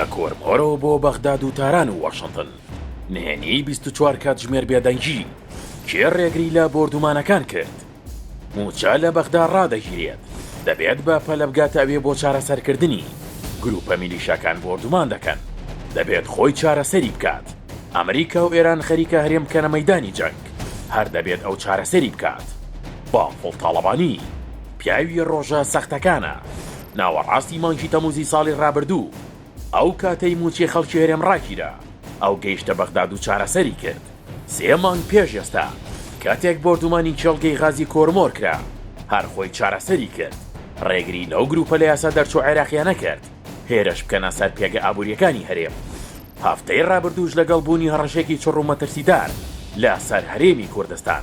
لە کۆرمۆرەوە بۆ بەغداد و تاران و واشنتن نهێنیی بیست و چوار کاتژمێر بێدەنگی، کێ ڕێگری لە بۆردومانەکان کرد؟ مووچە لە بەغدا ڕادەگیرێت، دەبێت بە پەلە بگاتە ئەوێ بۆ چارەسەرکردنی، گرووپە میلیشاکان بۆردومان دەکەن، دەبێت خۆی چارەسەری بکات، ئەمریکا و ئێران خەریکە هەرێم بکەنە مەیدانی جەنگ، هەر دەبێت ئەو چارەسەری بکات. بافڵ تاڵەبانی. پیاوی ڕۆژە سەختەکانە. ناوەڕاستی مانگی تەمووزی ساڵی ڕابردوو، ئەو کاتەی مووچەی خەڵکی هەرێم ڕاگیرا، ئەو گەیشتە بەغداد و چارەسەری کرد. سێ مانگ پێش ئێستا، کاتێک بۆردومانی کێڵگەی غازی کۆرمۆر کرا، هەر خۆی چارەسەری کرد. ڕێگری لەو گرووپە لە یاسا دەرچوو عێراقییانە کرد هێرش بکەنە سەر پێگە ئابوورییەکانی هەرێم. هەفتەی ڕابردووش لەگەڵ بوونی هەڕەشەیەکی چڕ و مەترسیدار لە سەر هەرێمی کوردستان،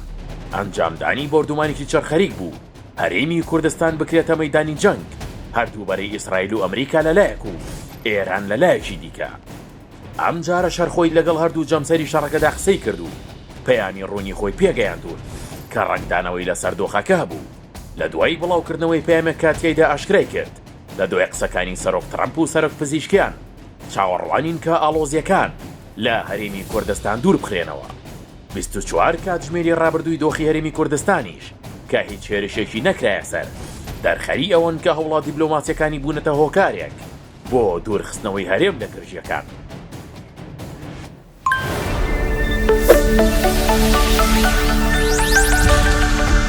ئەنجامدانی بۆردومانێکی چڕ خەریک بوو هەرێمی کوردستان بکرێتە مەیدانی جەنگ هەردوو بەرەی ئیسرائیل و ئەمریکا لە لایەک و ئێران لە لایەکی دیکە. ئەم جارەش هەر خۆی لەگەڵ هەردوو جەمسەری شەڕەکەدا قسەی کرد و پەیامی ڕوونی خۆی پێگەیاندوون کە ڕەنگدانەوەی لە سەر دۆخەکە هەبوو. لە دوای بڵاو کردنەوەی پەیامێک کە تیایدا ئاشکرای کرد لە دوای قسەکانی سەرۆک تڕەمپ و سەرۆک پزیشکیان، چاوەڕوانین کە ئاڵۆزییەکان لە هەرێمی کوردستان دووربخرێنەوە. بیست و چوار کاتژمێری رابردووی دۆخی هەرێمی کوردستانیش کە هیچ هێرشێکی نەکرایە سەر، دەرخەری ئەوەن کە هەوڵە دیبلۆماسییەکانی بوونەتە هۆکارێک بۆ دوورخستنەوەی هەرێم لە گرژییەکان.